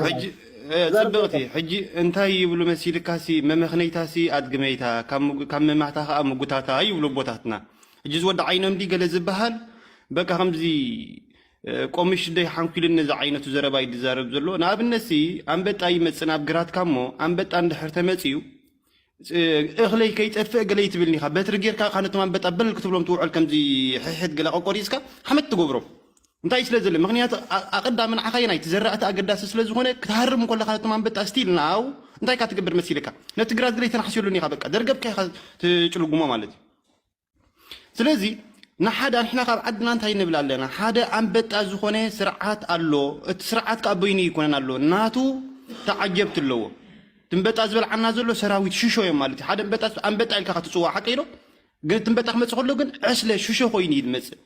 ሕጂ ጽብቕቲ ሕጂ እንታይ ይብሉ መሲልካሲ መመኽነይታሲ ኣድግመይታ ካብ መማህታ ከዓ ምጉታታ ይብሉ ኣቦታትና ሕጂ ዝወዲ ዓይኖም ዲ ገለ ዝበሃል በቃ ከምዚ ቆምሽ ደይ ሓንኲልን ነዚ ዓይነቱ ዘረባ እዩ ዝዛረብ ዘሎ ንኣብነትሲ ኣንበጣ ይመጽእ ናብ ግራትካ እሞ ኣንበጣ እንድሕር ተመጽዩ እኽለይ ከይጠፍእ ገለ ይትብልኒ ኢኻ በትሪ ጌርካ ካ ነቶም ኣንበጣ በል ክትብሎም ትውዕል ከምዚ ሕሕት ገለ ቆቆሪፅካ ሓመድ ትገብሮም እንታይ ስለ ዘለ ምክንያቱ ኣቐዳሚ ንዓኻ የናይ እቲ ዘራእቲ ኣገዳሲ ስለ ዝኾነ ክትሃርም ከለካ ነቶም ኣንበጣ ስቲል ናው እንታይ ካ ትገብር መሲልካ ነቲ ግራት ገለ ተናሕስየሉኒ ኢኻ በቃ ደርገብካ ኢኻ ትጭልጉሞ ማለት እዩ ስለዚ ንሓደ ንሕና ካብ ዓድና እንታይ ንብል ኣለና ሓደ ኣንበጣ ዝኾነ ስርዓት ኣሎ እቲ ስርዓት ከዓ በይኑ ይኮነን ኣሎ ናቱ ተዓጀብቲ ኣለዎ ትንበጣ ዝበልዓና ዘሎ ሰራዊት ሽሾ እዮም ማለት እዩ ሓደ ንበጣ ኣንበጣ ኢልካ ከትፅዋ ሓቂ ዶ ግን ትንበጣ ክመፅእ ከሎ ግን ዕስለ ሽሾ ኮይኑ እዩ ዝመፅእ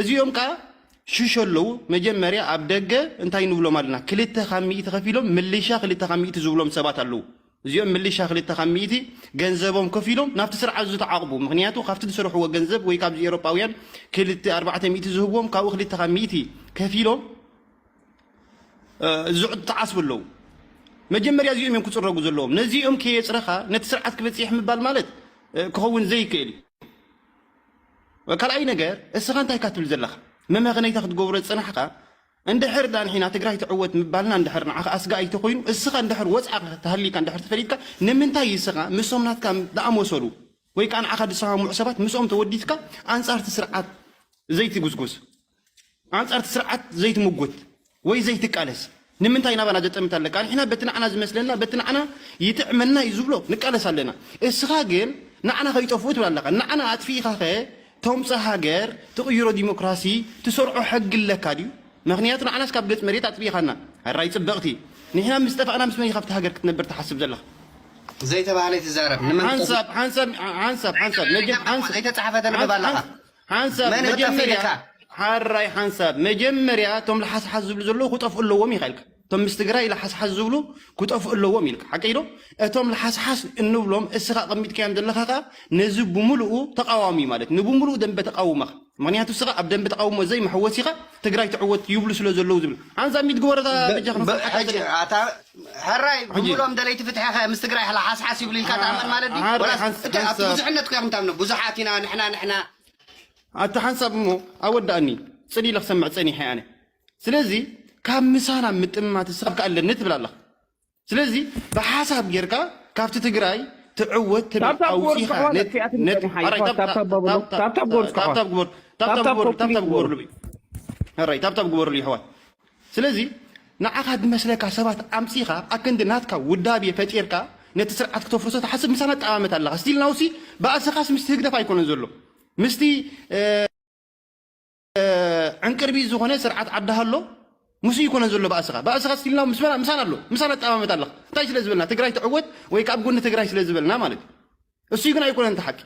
እዚኦም ከዓ ሽሾ ኣለዉ መጀመርያ ኣብ ደገ እንታይ ንብሎም ኣለና ክልተ ካብ ሚእቲ ከፊሎም ምልሻ ክልተ ካብ ሚእቲ ዝብሎም ሰባት ኣለዉ እዚኦም ምልሻ ክልተ ካብ ሚእቲ ገንዘቦም ከፊሎም ናብቲ ስርዓት ዝተዓቕቡ ምክንያቱ ካብቲ ዝሰርሕዎ ገንዘብ ወይ ካብዚ ኤሮጳውያን ክልተ ኣርባዕተ ሚእቲ ዝህብዎም ካብኡ ክልተ ካብ ሚእቲ ከፊሎም ዝዓስቡ ኣለዉ መጀመርያ እዚኦም እዮም ክፅረጉ ዘለዎም ነዚኦም ከየፅረኻ ነቲ ስርዓት ክበፅሕ ምባል ማለት ክኸውን ዘይክእል እዩ ካልኣይ ነገር እስኻ እንታይ ካ ትብል ዘለኻ መመኸነይታ ክትገብሮ ዝፅናሕካ እንድሕር ድኣ ንሒና ትግራይ ትዕወት ምባልና እንድሕር ንዓኻ ኣስጋኢ እንተኾይኑ እስኻ እንድሕር ወጽዓ ተሃሊካ እንድሕር ተፈሊጥካ ንምንታይ እስኻ ምስዞም ናትካ ድኣመሰሉ ወይ ከኣ ንዓኻ ድሰማምዑ ሰባት ምስኦም ተወዲትካ ኣንጻር እቲ ስርዓት ዘይትጉስጉስ ኣንጻር እቲ ስርዓት ዘይትምጉት ወይ ዘይትቃለስ ንምንታይ ናባና ዘጠምት ኣለካ ንሕና በቲ ንዓና ዝመስለና በቲ ንዓና ይጥዕመና እዩ ዝብሎ ንቃለስ ኣለና እስኻ ግን ንዓና ከይጠፍኡ ትብል ኣለኻ ንዓና ኣጥፊኢኻ ኸ ተምጽእ ሃገር ትቕይሮ ዲሞክራሲ ትሰርዖ ሕጊ ኣለካ ድዩ መኽንያቱ ንዓናስ ካብ ገጽ መሬት ኣጥፊኢኻና ሕራይ ጽብቕቲ ንሕና ምስ ጠፋእና ምስ መን ኢኻ ኣብቲ ሃገር ክትነብር ትሓስብ ዘለኻ ዘይተባህለ ኣይትዛረብ ንመን ሓንሳብ ሓንሳብ ሓንሳብ ሓንሳብ ዘይተጻሕፈ ተንብብ ኣለኻ ሓንሳብ መጀመርያ ሓራይ ሓንሳብ መጀመርያ እቶም ልሓስሓስ ዝብሉ ዘለዉ ክጠፍኡ ኣለዎም ኢኻ ኢልካ እቶም ምስ ትግራይ ለሓስሓስ ዝብሉ ክጠፍኡ ኣለዎም ኢልካ ሓቀይ ዶ እቶም ለሓስሓስ እንብሎም እስኻ ቀሚጥካዮም ዘለኻ ከዓ ነዚ ብምልኡ ተቃዋሚ ማለት ንብምልኡ ደንበ ተቃውመኻ ምክንያቱ እስኻ ኣብ ደንበ ተቃውሞ ዘይመሐወሲ ኢኻ ትግራይ ትዕወት ይብሉ ስለ ዘለዉ ዝብል ሓንሳ ሚት ግበሮ እዛ በጃኻ ብ- መጽሓፍ ሕጂ ሓቀይ ኣታ ሕራይ ሕጂ ብምሎም ደለይቲ ፍትሒ ከ ምስ ትግራይ ሓሓስሓስ ይብሉ ኢልካ ትኣምን ማለት ድዩ ዓራይ ወላስ ሓንስ- እቲ ኣብቲ ሓንሳብ ብዙሕነት ኮ ኢኹም ታምኑ ብዙሓት ኢና ንሕና ንሕና ኣታ ሓንሳብ እሞ ኣወዳእኒ ጽን ኢለ ክሰምዕ ጸኒሐ ኣነ ስለዚ ካብ ምሳና ምጥምማት እስኻ ከ ኣለኒ ትብል ኣለኻ ስለዚ ብሓሳብ ጌርካ ካብቲ ትግራይ ትዕወት ትብል ታብታብ ጎርዝ ኣውፂኻ ከሕዋት ነት- ክፍያት ነት- ንጠይቕ ሓይ ኣራይ ከሕዋት ታብ- ታብታብ ታብ- በብሉ ታብ- ታብታብ ጎርዝ ከሕዋት ታብታብ ግበሩ ታብታብ ታብታብ ግበሩ ኮምፕሊት ታብታብ ግበሩ ግበርሉ ኣራይ ታብታብ ግበርሉ ይሕዋት ስለዚ ንዓኻ ዝመስለካ ሰባት ኣምፂኻ ኣክንዲ ናትካ ውዳቤ ፈጢርካ ነቲ ስርዓት ክተፍርሶ ትሓስብ ምሳና ጠማመት ኣለኻ ስቲል ናውሲ ባእስኻስ ምስቲ ህግደፍ ኣይኮነን ዘሎ ምስቲ ዕንቅርቢት ዝኾነ ስርዓት ዓዲ ሃሎ ምስ ይኮነ ዘሎ ባእስኻ ባእስኻ ስቲልና ምስና ምሳና ኣሎ ምሳና ጠማመት ኣለኻ እንታይ ስለ ዝበልና ትግራይ ትዕወት ወይ ካብ ጎኒ ትግራይ ስለ ዝበልና ማለት እዩ እሱይ ግን ኣይኮነን እቲ ሓቂ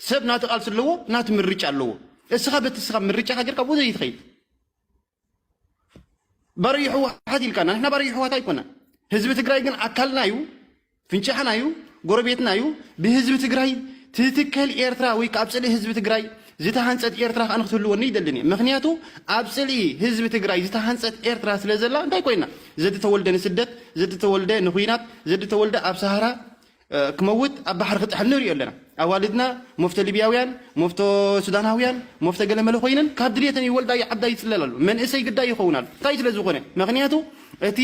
ሰብ ናቲ ቃልሲ ኣለዎ ናቲ ምርጫ ኣለዎ እስኻ በቲ እስኻ ምርጫኻ ጌርካ ብኡ ዘይትኸይድ ባርዩ ሕወሓት ኢልካና ንሕና ባርዩ ሕወሓት ኣይኮና ህዝቢ ትግራይ ግን ኣካልና እዩ ፍንጫሕና እዩ ጎረቤትና እዩ ብህዝቢ ትግራይ ትትከል ኤርትራ ወይ ኣብ ፅልኢ ህዝቢ ትግራይ ዝተሃንፀት ኤርትራ ከዓ ንክትህልወኒ ይደልን እየ ምክንያቱ ኣብ ፅልኢ ህዝቢ ትግራይ ዝተሃንፀት ኤርትራ ስለ ዘላ እንታይ ኮይና ዘዲ ተወልደ ንስደት ዘዲ ተወልደ ንኩናት ዘዲ ተወልደ ኣብ ሰሃራ ክመውት ኣብ ባሕሪ ክጥሕል ንሪኦ ኣለና ኣዋልድና መፍቶ ሊብያውያን መፍቶ ሱዳናውያን መፍቶ ገለመለ ኮይነን ካብ ድልየተን ይወልዳ ይዓብዳ ይፅለላሉ መንእሰይ ግዳይ ይኸውን ኣሎ እንታይ ስለ ዝኾነ ምክንያቱ እቲ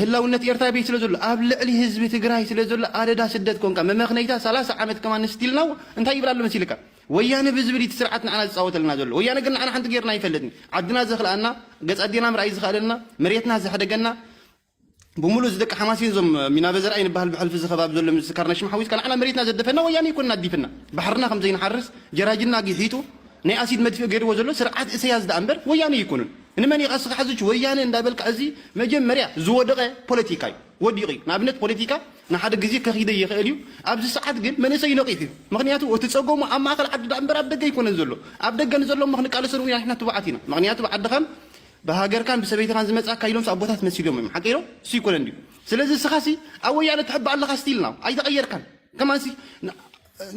ህላውነት ኤርትራ ይብይ ስለ ዘሎ ኣብ ልዕሊ ህዝቢ ትግራይ ስለ ዘሎ ኣደዳ ስደት ኮንካ መመኽነይታ ሰላሳ ዓመት ከማን ስቲል ናው እንታይ ይብል ኣሎ መሲልካ ወያነ ብዝብል እቲ ስርዓት ንዓና ዝጻወተልና ዘሎ ወያነ ግን ንዓና ሓንቲ ጌርና ይፈልጥን ዓድና ዘኽልኣና ገጽ ኣዴና ምርኣይ ዝኸኣለና መሬትና ዘሕደገና ብምሉእ እዚ ደቂ ሓማሴን ዞም ሚናበ ዘርኣይ ንበሃል ብሕልፊ እዚ ከባቢ ዘሎ ምስ ካርና ሽምሓ ዊዝካ ንዓና መሬትና ዘደፈና ወያነ ይኮንና ኣዲፍና ባሕርና ከም ዘይንሓርስ ጀራጅና ጊሒጡ ናይ ኣሲድ መድፍእ ገይርዎ ዘሎ ስርዓት እሰያስ ደኣ እምበር ወያነ ይኮኑን ንመን ኢኻ እስኻ ሕዝች ወያነ እንዳበልካ እዚ መጀመርያ ዝወደቐ ፖለቲካ እዩ ወዲቑ እዩ ንኣብነት ፖለቲካ ንሓደ ግዜ ከኺደይ ይኽእል እዩ ኣብዚ ሰዓት ግን መንእሰይ ነቒሑ እዩ ምኽንያቱ እቲ ጸገሙ ኣብ ማእከል ዓዲ ድኣ እምበር ኣብ ደገ ኣይኮነን ዘሎ ኣብ ደገ ንዘሎ እሞ ክንቃለሰሉ ኢና ንሕና ትቡዓት ኢና ምኽንያቱ ብዓድኻን ብሃገርካን ብሰበይትኻን ዝመጻካ ኢሎምስ ኣቦታት መሲሎም እዮም ሓቀይ ዶ እሱ ይኮነን ድዩ ስለዚ እስኻሲ ኣብ ወያነ ትሕባእ ኣለኻ ስቲል ናው ኣይተቐየርካን ከማንሲ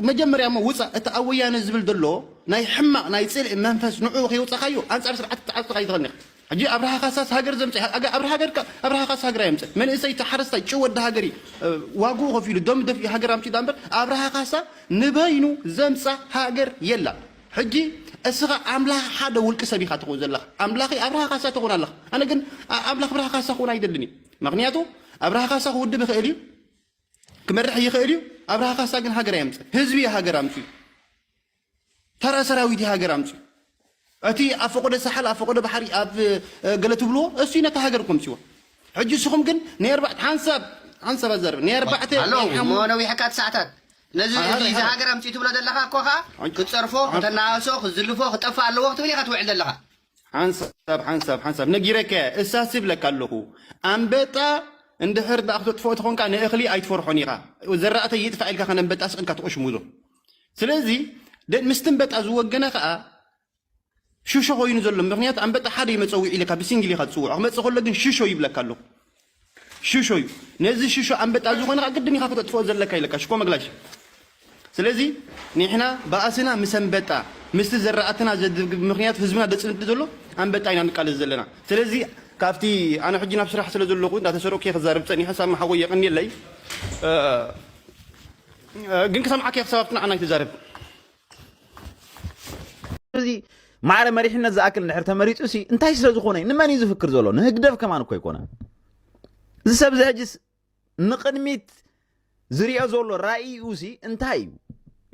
መጀመርያ እሞ ውጻእ እቲ ኣብ ወያነ ዝብል ዘሎ ናይ ሕማቅ ናይ ጽልኢ መንፈስ ንዑኡ ከይወጻካዮ ኣንጻር ስርዓት ክትዓጽካ ይትክእል ኒካ ሕጂ ኣብርሃ ካሳስ ሃገር ዘምጽ ኣብርሃ ሃገር ኣብርሃ ካሳ ሃገር ኣየምጽን መንእሰይ እቲ ሓረስታይ ጭው ወዲ ሃገር እዩ ዋግኡ ከፊሉ ደም ደፊኡ ሃገር ኣምጺኡ ዳኣ እምበር ኣብርሃ ካሳ ንበይኑ ዘምጻ ሃገር የላን ሕጂ እስኻ ኣምላኽ ሓደ ውልቂ ሰብ ኢኻ ትኸውን ዘለኻ ኣምላኺ ኣብርሃ ካሳ ትኾን ኣለኻ ኣነ ግን ኣምላኽ ብርሃ ካሳ ክኾን ኣይደልን እዩ ምክንያቱ ኣብርሃ ካሳ ክውድብ ይኽእል እዩ ክመርሕ ይኽእል እዩ ኣብርሃ ካሳ ግን ሃገር ኣየምፅእ ህዝቢ እዩ ሃገር ኣምፅኡ ተራ ሰራዊት እዩ ሃገር ኣምፅኡ እቲ ኣብ ፈቆዶ ሳሓል ኣብ ፈቆዶ ባሕሪ ኣብ ገለ ትብልዎ እሱ ነታ ሃገር ከምፅዎ ሕጂ እስኹም ግን ናይ ኣርባዕተ ሓንሳብ ሓንሳብ ኣዛርብ ናይ ኣርባዕተ ኣሎ እሞ ነዊሕካ ትሳዕታት ነዚ እዚ እዚ ሃገር ኣምፅኡ ትብሎ ዘለኻ እኮ ከዓ ክፀርፎ ከተናእሶ ክዝልፎ ክጠፍእ ኣለዎ ክትብል ኢኻ ትውዕል ዘለኻ ሓንሳብ ሓንሳብ ሓንሳብ ነጊረካያ እሳስ ይብለካ ኣለኹ ኣንበጣ እንድሕር ደኣ ክተጥፍኦ ተኾንካ ንእኽሊ ኣይትፈርሖን ኢኻ ዘራእተይ ይጥፋእ ኢልካ ከን ኣንበጣ ስቕ ኢልካ ትቆሽሙዞ ስለዚ ምስቲ ኣንበጣ ዝወገነ ከዓ ሽሾ ኮይኑ ዘሎ ምክንያቱ ኣንበጣ ሓደ እዩ መፀዊዒ ኢልካ ብሲንግል ኢኻ ትፅውዖ ክመፅእ ከሎ ግን ሽሾ ይብለካ ኣለኹ ሽሾ እዩ ነዚ ሽሾ ኣንበጣ ዝኾነ ከኣ ግድን ኢኻ ክተጥፍኦ ዘለካ ኢለካ ሽኮ መግላሽ ስለዚ ኒሕና ባእስና ምስ ኣንበጣ ምስቲ ዘራእትና ዘድግብ ምክንያቱ ህዝብና ደጽንት ዘሎ ኣንበጣ ኢና ንቃለስ ዘለና ስለዚ ካብቲ ኣነ ሕጂ ናብ ስራሕ ስለ ዘለኹ እንዳተሰረቅኩ እየ ክዛረብ ጸኒሐ ሳሚ ሓወይ የቀንየለይ ግን ክሰምዓካ እየ ክሳብ ኣብቲ ንዓና ኣይትዛረብ እዚ ማዕረ መሪሕነት ዝኣክል እንድሕር ተመሪፁ ሲ እንታይ ስለ ዝኾነ ንመን እዩ ዝፍክር ዘሎ ንህግደፍ ከማን እኮ ኣይኮነ እዚ ሰብ እዚ ሕጅስ ንቅድሚት ዝሪኦ ዘሎ ራእይኡ ሲ እንታይ እዩ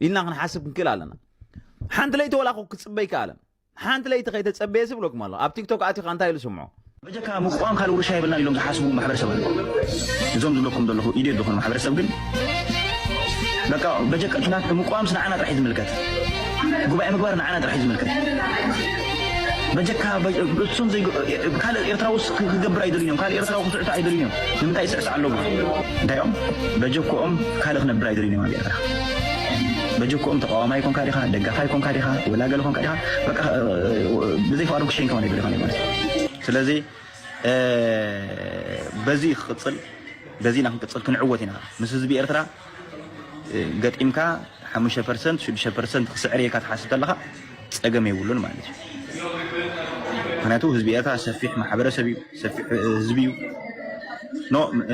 ኢልና ክንሓስብ ክንክእል ኣለና ሓንቲ ለይቲ ወላ ክፅበይ ከኣለን ሓንቲ ለይቲ ከይተጸበየስ ይብለኩም ኣሎ ኣብ ቲክቶክ ኣቲካ እንታይ ኢሉ ስምዖ። በጀካ ምቁዋም ካልእ ውርሻ የብልናን ኢሎም ዝሓስቡ ማሕበረሰብ ኣለው እዞም ዝብለኩም ዘለኹ ኢድየት ዝኾኑ ማሕበረሰብ ግን በቃ በጀካ እቲ ናትኩም ምቁዋምስ ንዓና ጥራሕ እዩ ዝምልከት ጉባኤ ምግባር ንዓና ጥራሕ እዩ ዝምልከት በጀካ እሱም ዘይ ካልእ ኤርትራውስ ክገብር ኣይደልዩን እዮም ካልእ ኤርትራዊ ክስዕቱ ኣይደልዩን እዮም ንምንታይ ይስዕስዕ ኣለዎ እንታይ እዮም በጀክኦም ካልእ ክነብር ኣይደልዩን እዮም ኣብ ኤርትራ በጀክኦም ተቃዋማይ ኮንካ ዲካ ደጋፋይ ኮንካ ዲካ ወላ ገለ ኮንካ ዲካ በቃ ብዘይ ፍቃዶም ክሸይን ከማን ይብል ማለት ስለዚ በዚ ክቅጽል በዚ ኢና ክንቅጽል ክንዕወት ኢና ምስ ህዝቢ ኤርትራ ገጢምካ 5 ፐርሰንት 6 ፐርሰንት ክስዕር ኢልካ ትሓስብ ተለካ ጸገም የብሉን ማለት እዩ ምክንያቱ ህዝቢ ኤርትራ ሰፊሕ ማሕበረሰብ እዩ ሰፊሕ ህዝቢ እዩ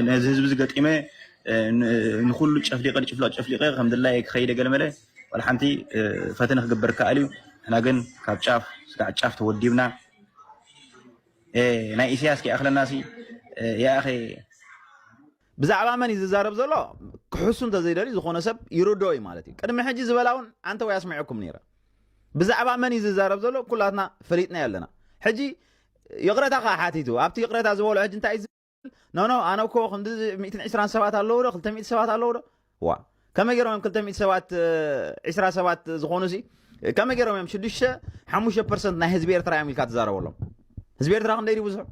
ነዚ ህዝቢ ዝገጢመ ንኩሉ ጨፍሊቀ ንጭፍለቅ ጨፍሊቀ ከም ድላየ ክኸይደ ገለመለ ዋላ ሓንቲ ፈተነ ክግበር ከኣል እዩ ንሕና ግን ካብ ጫፍ ስጋዕ ጫፍ ተወዲብና ናይ ኢሳያስ ከይኣኽለና ሲ ይኣኸ ብዛዕባ መን እዩ ዝዛረብ ዘሎ ክሕሱ እንተዘይደልዩ ዝኾነ ሰብ ይርዶ እዩ ማለት እዩ ቅድሚ ሕጂ ዝበላ እውን ኣንተ ወይ ኣስሚዐኩም ነይረ ብዛዕባ መን እዩ ዝዛረብ ዘሎ ኩላትና ፈሊጥና ኣለና ሕጂ ይቕረታ ከዓ ሓቲቱ ኣብቲ ይቕረታ ዝበሎ ሕጂ እንታይ ኖ ኖ ኣነ እኮ ክንዲ ሚእትን ዕስራን ሰባት ኣለዉ ዶ ክልተ ሚእቲ ሰባት ኣለዉ ዶ ዋ ከመይ ገይሮም እዮም ክልተ ሚእቲ ሰባት ዕስራ ሰባት ዝኾኑ ሲ ከመይ ገይሮም እዮም ሽዱሽተ ሓሙሽተ ፐርሰንት ናይ ህዝቢ ኤርትራ እዮም ኢልካ ትዛረበሎም ህዝቢ ኤርትራ ክንደይ ብዙሑ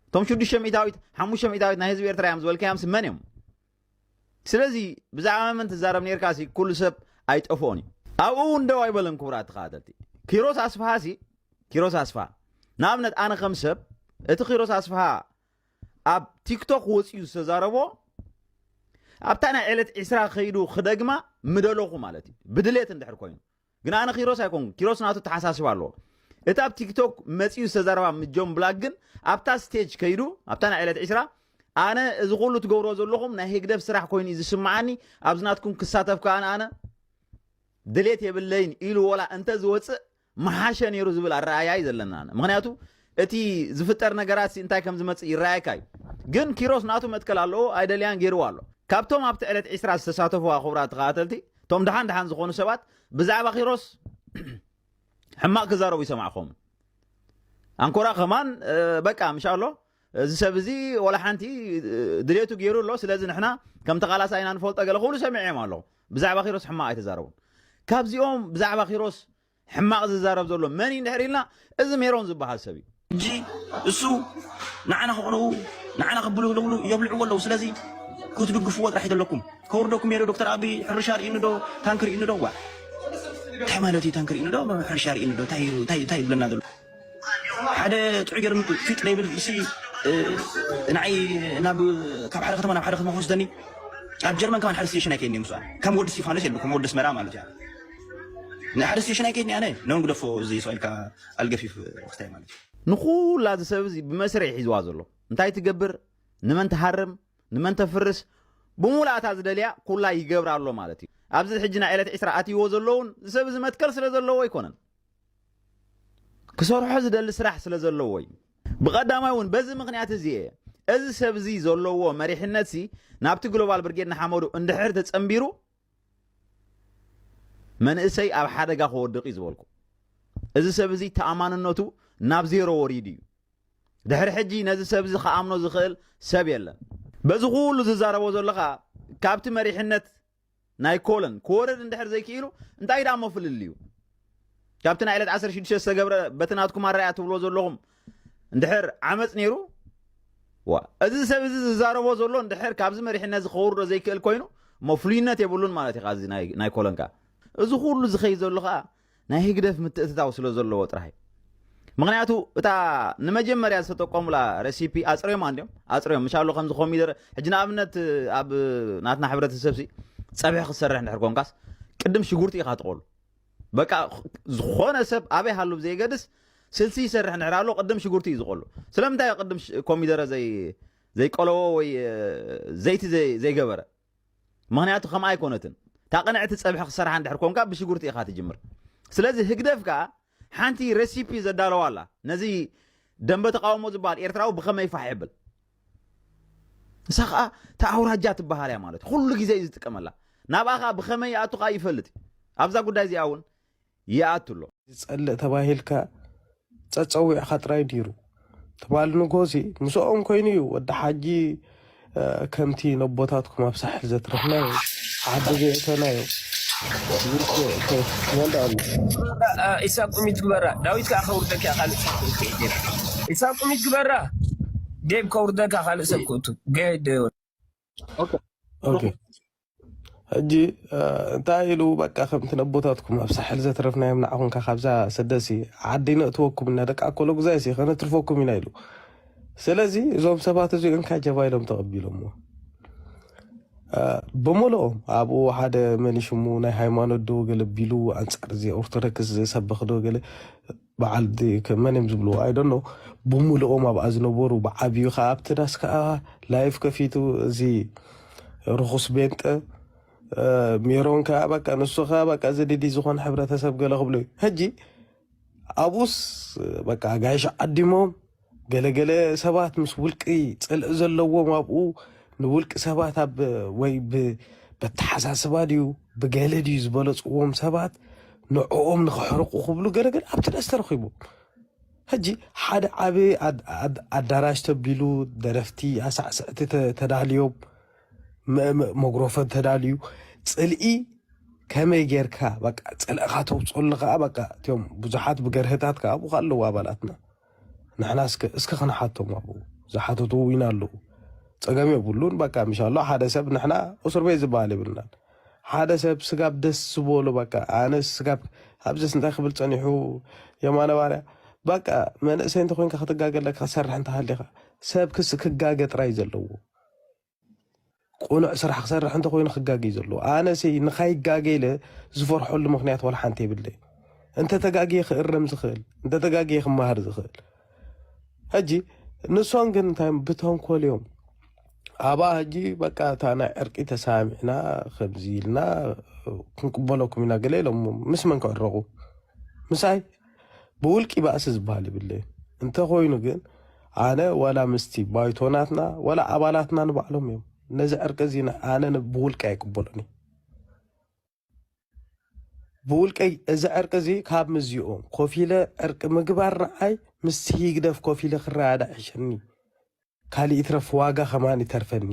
እቶም ሽዱሽተ ሚእታዊት ሓሙሽተ ሚእታዊት ናይ ህዝቢ ኤርትራ እዮም ዝበልካዮምሲ መን እዮም ስለዚ ብዛዕባ መን ትዛረብ ኔርካ ሲ ኩሉ ሰብ ኣይጠፍኦን እዩ ኣብኡ እውን ደው ኣይበለን ክቡራት ተኸታተልቲ ኪሮስ ኣስፍሃ ሲ ኪሮስ ኣስፍሃ ንኣብነት ኣነ ከም ሰብ እቲ ኪሮስ ኣስፍሃ ኣብ ቲክቶክ ወፅኡ ዝተዛረቦ ኣብታ ናይ ዕለት ዒስራ ከይዱ ክደግማ ምደለኹ ማለት እዩ ብድሌት እንድሕር ኮይኑ ግን ኣነ ኪሮስ ኣይኮንኩን ኪሮስ ናቱ ተሓሳስባ ኣለዎ እቲ ኣብ ቲክቶክ መጺኡ ዝተዛረባ ምስ ጆን ብላክ ግን ኣብታ ስቴጅ ከይዱ ኣብታ ናይ ዕለት ዕስራ ኣነ እዚ ኩሉ ትገብሮ ዘለኹም ናይ ህግደፍ ስራሕ ኮይኑ እዩ ዝስምዓኒ ኣብዚ ናትኩም ክሳተፍ ከዓ ኣነ ድሌት የብለይን ኢሉ ወላ እንተ ዝወፅእ መሓሸ ነይሩ ዝብል ኣረኣያ እዩ ዘለና ምክንያቱ እቲ ዝፍጠር ነገራትሲ እንታይ ከም ዝመጽእ ይረኣየካ እዩ ግን ኪሮስ ናቱ መትከል ኣለዎ ኣይደልያን ጌርዋ ኣሎ ካብቶም ኣብቲ ዕለት ዒስራ ዝተሳተፍዋ ክቡራት ተኸታተልቲ እቶም ድሓን ድሓን ዝኾኑ ሰባት ብዛዕባ ኪሮስ ሕማቕ ክዛረቡ ይሰማዕኹም ኣንኮራ ከማን በቃ ምሻ ኣሎ እዚ ሰብ እዚ ወላ ሓንቲ ድሌቱ ገይሩ ኣሎ ስለዚ ንሕና ከም ተቓላሳ ኢና ንፈልጦ ገለ ክብሉ ሰሚዐዮም ኣለኹ ብዛዕባ ኪሮስ ሕማቕ ኣይተዛረቡን ካብዚኦም ብዛዕባ ኪሮስ ሕማቅ ዝዛረብ ዘሎ መን እዩ እንድሕር ኢልና እዚ ሜሮን ዝብሃል ሰብ እዩ። ሕጂ እሱ ንዓና ከቅንኡ ንዓና ከብሉ ዝብሉ የብልዕዎ ኣለዉ ስለዚ ክትድግፍዎ ጥራሕ እዩ ዘለኩም ከውርደኩም እየ ዶ ዶክተር ኣቢ ሕርሻ ርኢኒ ዶ ታንኪ ርኢኒ ዶ ዋእ እንታይ ማለት እዩ ታንኪ ርኢኒ ዶ ሕርሻ ርኢኒ ዶ እንታይ እዩ እንታይ እንታይ ዝብለና ዘሎ ሓደ ጥዑይ ገርም ፊጥ ደይብል ንሲ ንዓይ ናብ ካብ ሓደ ከተማ ናብ ሓደ ከተማ ክወስደኒ ኣብ ጀርመን ከማን ሓደ ስቴሽን ኣይከይድን ምስ ከም ወዲ እስጢፋኖስ የለ ከም ወዲ ኣስመራ ማለት እያ ንሓደ ስቴሽን ኣይከይድን ኣነ ነውን ግደፎ እዚ ስኢልካ ኣልገፊፍ ክታይ ማለት እዩ ንኹላ እዚ ሰብ እዚ ብመስረ ይሒዝዋ ዘሎ እንታይ ትገብር ንመን ትሃርም ንመን ተፍርስ ብሙላእታ ዝደልያ ኩላ ይገብራ ኣሎ ማለት እዩ ኣብዚ ሕጂ ናይ ዕለት ዕስራ ኣትይዎ ዘለውን ዝሰብ እዚ መትከል ስለ ዘለዎ ኣይኮነን ክሰርሖ ዝደሊ ስራሕ ስለ ዘለዎ እዩ። ብቐዳማይ እውን በዚ ምክንያት እዚ እየ እዚ ሰብ እዚ ዘለዎ መሪሕነት ሲ ናብቲ ግሎባል ብርጌድ ንሓመዱ እንድሕር ተጸንቢሩ መንእሰይ ኣብ ሓደጋ ክወድቕ እዩ ዝበልኩ። እዚ ሰብ እዚ ተኣማንነቱ ናብ ዜሮ ወሪዱ እዩ ድሕሪ ሕጂ ነዚ ሰብ እዚ ክኣምኖ ዝኽእል ሰብ የለን በዚ ኩሉ ዝዛረቦ ዘሎ ከዓ ካብቲ መሪሕነት ናይ ኮለን ክወርድ እንድሕር ዘይክኢሉ እንታይ ዳሞ ፍልልዩ ካብቲ ናይ ዕለት 16 ዝተገብረ በቲ ናትኩም ኣረኣያ ትብልዎ ዘለኹም እንድሕር ዓመፅ ነይሩ ዋ እዚ ሰብ እዚ ዝዛረቦ ዘሎ እንድሕር ካብዚ መሪሕነት ዝኸውርዶ ዘይክእል ኮይኑ እሞ ፍሉይነት የብሉን ማለት እዩ እዚ ናይ ኮለንካ እዚ ኩሉ ዝኸይ ዘሎ ከዓ ናይ ህግደፍ ምትእትታው ስለ ዘለዎ ጥራህ እዩ ምክንያቱ እታ ንመጀመርያ ዝተጠቀሙላ ረሲፒ ኣፅርዮማ እንዲዮም ኣፅርዮም ምሻሎ ከምዚ ኮሚደረ ሕጂ ንኣብነት ኣብ ናትና ሕብረተሰብ ሲ ፀብሒ ክሰርሕ እንድሕር ኮንካስ ቅድም ሽጉርቲ ኢኻ ትቆሉ በቃ ዝኾነ ሰብ ኣበይ ሃሉ ብዘይገድስ ስልሲ ይሰርሕ እንድሕር ኣሎ ቅድም ሽጉርቲ እዩ ዝቆሉ ስለምንታይ ቅድም ኮሚደረ ዘይ ዘይቆለዎ ወይ ዘይቲ ዘይገበረ ምኽንያቱ ከምኣ ኣይኮነትን እታ ቅንዕቲ ጸብሒ ክሰርሓ እንድሕር ኮንካ ብሽጉርቲ ኢኻ ትጅምር ስለዚ ህግደፍ ከኣ ሓንቲ ረሲፒ ዘዳለዋ ኣላ ነዚ ደንበ ተቃውሞ ዝበሃል ኤርትራዊ ብኸመይ ፋሕ የብል ንሳ ከዓ እታ ኣውራጃ ትበሃል እያ ማለት ኩሉ ግዜ እዩ ዝጥቀመላ ናብኣ ከዓ ብኸመይ ይኣቱ ከዓ ይፈልጥ እዩ ኣብዛ ጉዳይ እዚኣ እውን ይኣቱ ኣሎ። ዝጸልእ ተባሂልካ ጸጸዊዕካ ጥራይ ኔሩ እቲ ባል ንጎዚ ምስኦም ኮይኑ እዩ ወዲ ሓጂ ከምቲ ነቦታትኩም ኣብ ሳሕል ዘትረፍናዮ ዓዲ ዘእተናዮ ውግእ ከይትመልኣሉ። ግበራ ኢሳቅ ቁሚት ግበራ ዳዊት ከኣ ከውርደኪ እያ ካልእ ሰብ ክእቱ ዴቭ ኢሳቅ ቁሚት ግበራ ዴቭ ከውርደካ ካልእ ሰብ ክእቱ ገደዮን። ኦኬ ኦኬ ሩሑስ ሕጂ እ፣ እንታይ ኢሉ በቃ ከምቲ ነቦታትኩም ኣብ ሳሕል ዘትረፍናዮም ንዓኹም ከ ካብዛ ስደሲ ዓዲ ነእትወኩም እና ደቂ ኣኮሎ ጉዛይሲ ከነትርፈኩም ኢና ኢሉ ስለዚ እዞም ሰባት እዚኦም እካ ጀባ ኢሎም ተቐቢሎሞ እ፣ ብምልኦም ኣብኡ ሓደ መን እዩ ሽሙ ናይ ሃይማኖት ዶ ገለ ቢሉ ኣንጻር እዚ ኦርቶዶክስ ዝሰብኽ ዶ ገለ በዓል ከም መን እዮም ዝብልዎ ኣይ ዶንት ኖው ብሙልኦም ኣብኣ ዝነበሩ ብዓብዩ ከዓ ኣብቲ ዳስ ከዓ ላይፍ ከፊቱ እዚ ርኹስ ቤንጠ እ፣ ሜሮን ከዓ በቃ ንሱ ከዓ በቃ እዚ ድዲ ዝኾነ ሕብረተሰብ ገለ ክብሎ እዩ ሕጂ ኣብኡስ በቃ ኣጋይሽ ዓዲሞም ገለ ገለ ሰባት ምስ ውልቂ ጽልኢ ዘለዎም ኣብኡ ንውልቂ ሰባት ኣብ ወይ በተሓሳስባ ድዩ ብገለ ድዩ ዝበለጽዎም ሰባት ንዕኦም ንኸሕርቑ ክብሉ ገለ ገለ ኣብቲ ደስ ተረኺቡ ሕጂ ሓደ ዓብ ኣዳራሽ ተቢሉ ደረፍቲ ኣሳዕስዕቲ ተዳልዮም መጉረፈን ተዳልዩ ጽልኢ ከመይ ጌርካ በቃ ጽልእኻ ተውፅሉ ከዓ በቃ እትዮም ብዙሓት ብገርህታት ከዓ ኣብኡ ኣለዉ ኣባላትና ንሕና እስከ እስከ ክንሓቶም ኣብኡ ዝሓተቱ እውን ኣለዉ ፀገም የብሉን በቃ ምሻሎ ሓደ ሰብ ንሕና እስር ቤት ዝበሃል የብልናን ሓደ ሰብ ስጋብ ደስ ዝበሎ በቃ ኣነ ስጋብ ኣብዘስ እንታይ ክብል ፀኒሑ የማነ ባርያ በቃ መንእሰይ እንተኮይንካ ክትጋገ ኣለካ ክትሰርሕ እንተሃሊካ ሰብ ክስ ክጋገ ጥራይ ዘለዎ ቁኑዕ ስራሕ ክሰርሕ እንተኮይኑ ክጋገይ ዘለዎ ኣነሲ ንካይጋገ ኢለ ዝፈርሐሉ ምክንያት ዋላ ሓንቲ የብለይ እንተተጋግየ ክእረም ዝክእል እንተተጋግየ ክመሃር ዝክእል ሕጂ ንሶም ግን እንታይ ብተንኮል እዮም ኣባ ሕጂ በቃ እታ ናይ ዕርቂ ተሰማሚዕና ከምዚ ኢልና ክንቅበለኩም ኢና ገለ ኢሎም ምስ መን ክዕረቁ ምሳይ ብውልቂ ባእሲ ዝብሃል ይብለይ እንተ ኮይኑ ግን ኣነ ዋላ ምስቲ ባይቶ ናትና ዋላ ኣባላትና ንባዕሎም እዮም ነዚ ዕርቂ እዚ ኣነ ብውልቂ ኣይቅበሎን እዩ ብውልቀይ እዚ ዕርቂ እዚ ካብ ምዚኦም ኮፍ ኢለ ዕርቂ ምግባር ንዓይ ምስ ህግደፍ ኮፍ ኢለ ክረዳዳ ይሕሸኒ ካልእ ይትረፍ ዋጋ ከማን ይተርፈኒ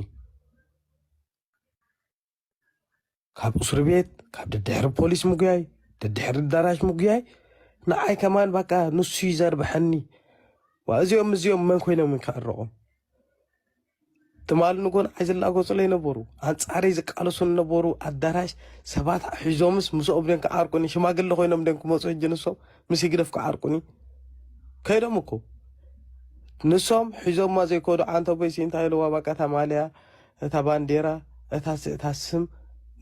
ካብ እስሪ ቤት ካብ ደድሕሪ ፖሊስ ምጉያይ ደድሕሪ ኣዳራሽ ምጉያይ ንዓይ ከማን በቃ ንሱ እዩ ዘርብሐኒ ዋ እዚኦም እዚኦም መን ኮይኖም ከዕረቖም ትማል ንጎን ዓይ ዝላጎፅለይ ነበሩ ኣንፃረይ ዝቃለሱ ነበሩ ኣዳራሽ ሰባት ሒዞምስ ምስኦም ደን ክዓርቁኒ ሽማግለ ኮይኖም ደን ክመፁ ሕጂ ንሶም ምስ ይግደፍ ክዓርቁኒ ከይዶም እኮ ንሶም ሒዞማ ዘይኮዱ ዓንተቦይሲ እንታይ ኢለዋ በቃ ተማልያ እታ ባንዴራ እታ እታ ስም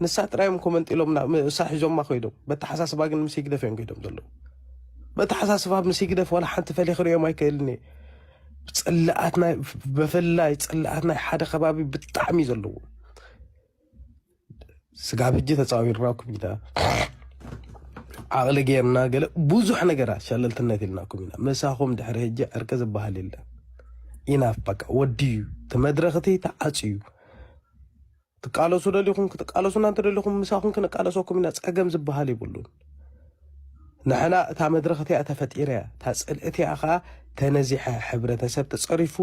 ንሳ ጥራይ እዮም ኮመንጢሎም ንሳ ሒዞማ ኮይዶም በተሓሳስባ ግን ምስ ህግደፍ እዮም ኮይዶም ዘለዉ በተሓሳስባ ምስ ህግደፍ ዋላ ሓንቲ ፈልየ ክርእዮም ኣይክእልን እየ ጽላኣት ናይ ብፍላይ ጽላኣት ናይ ሓደ ከባቢ ብጣዕሚ ዘለዎም ስጋብ ሕጂ ተጻዊርናኩም ኢና ዓቕሊ ጌርና ገለ ብዙሕ ነገራት ሸለልትነት ኢልናኩም ኢና ምሳኹም ድሕሪ ሕጂ ዕርቂ ዝበሃል የለን ኢናፍ በቃ ወድዩ እቲ መድረኽቲ ተዓፅዩ ትቃለሱ ደሊኹም ክትቃለሱና እንተደሊኹም ምሳኹም ክንቃለሰኩም ኢና ፀገም ዝበሃል ይብሉን ንሕና እታ መድረኽቲ እያ ተፈጢረ እያ እታ ፅልእቲ እያ ከዓ ተነዚሐ ሕብረተሰብ ተፀሪፉ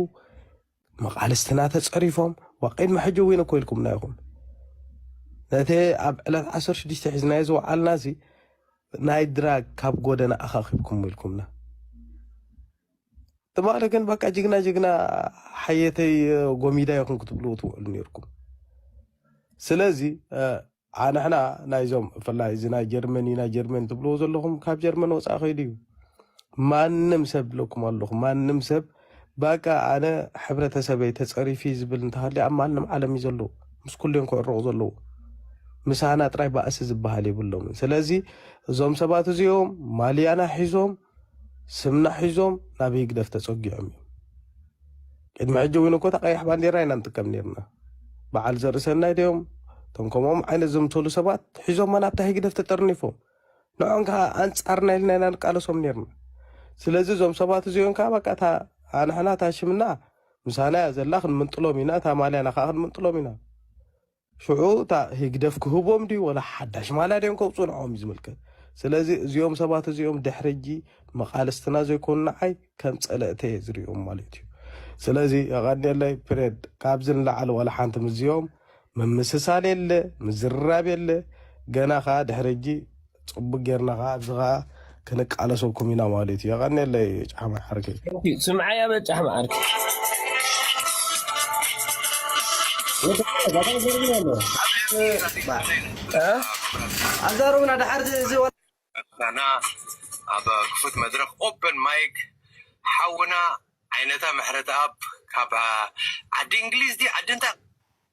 መቓልስትና ተጸሪፎም ዋቅድሚ ሕጂ እውን እኮ ኢልኩምና ኢኹም ነቲ ኣብ ዕለት ዓሰርተ ሽዱሽተ ሒዝናዮ ዝወዓልና እዚ ናይ ድራግ ካብ ጎደና ኣኻኺብኩም ኢልኩምና ትማሊ ግን በቃ ጅግና ጅግና ሓየተይ ጎሚዳ ይኹን ክትብሉ ትውዕሉ ነርኩም ስለዚ ዓሕ ንሕና ናይዞም ብፍላይ እዚ ናይ ጀርመን እዩ ናይ ጀርመን ትብልዎ ዘለኹም ካብ ጀርመን ወፃኢ ከይዱ እዩ ማንም ሰብ ኢለኩም ኣለኹ ማንም ሰብ ባቃ ኣነ ሕብረተሰበይ ተፀሪፊ ዝብል እንተሃልዩ ኣብ ማንም ዓለም እዩ ዘለዉ ምስ ኩሉ እዮም ክዕረቑ ዘለዉ ምሳና ጥራይ ባእሲ ዝበሃል የብሎምን ስለዚ እዞም ሰባት እዚኦም ማልያና ሒዞም ስምና ሒዞም ናብ ህግደፍ ተጸጊዖም እዮም። ቅድሚ ሕጂ እውን እኮ እታ ቀያሕ ባንዴራ ኢና ንጥቀም ነርና። በዓል ዘርእሰናይ ድዮም እቶም ከምኦም ዓይነት ዘምሰሉ ሰባት ሒዞማ ናብታ ህግደፍ ተጠርኒፎም ንዖም ከዓ ኣንጻርና ኢልና ኢና ንቃለሶም ነርና። ስለዚ እዞም ሰባት እዚኦም ከዓ በቃ እታ ኣንሕና እታ ሽምና ምሳና እያ ዘላ ክንምንጥሎም ኢና እታ ማልያና ከዓ ክንምንጥሎም ኢና። ሽዑ እታ ህግደፍ ክህቦም ድዩ ወላ ሓዳሽ ማልያ ድዮም ከውጽኡ ንዕኦም እዩ ዝምልከት። ስለዚ እዚኦም ሰባት እዚኦም ድሕሪ ሕጂ መቓልስትና ዘይኮኑ ንዓይ ከም ጸለእተ እየ ዝርእዮም ማለት እዩ። ስለዚ የቐንየለይ ፕሬድ ካብዚ ንላዕሊ ወላ ሓንቲ ምስዚኦም ምምስሳል የለ ምዝርራብ የለ ገና ከኣ ድሕሪ ሕጂ ጽቡቅ ጌርና ከኣ ኣብዚ ከኣ ክንቃለሰኩም ኢና ማለት እዩ የቀኔለይ ጫሕ መዓርከይ Thank you ስምዓያ በል ጫሕ መዓርከይ ኣዛረቡና ድሓር እዚ ወ- ኣና ኣብ ክፉት መድረኽ ኦፐን ማይክ ሓውና ዓይነታ ምሕረተኣብ ካብ ዓዲ እንግሊዝ ድዩ ዓዲ እንታይ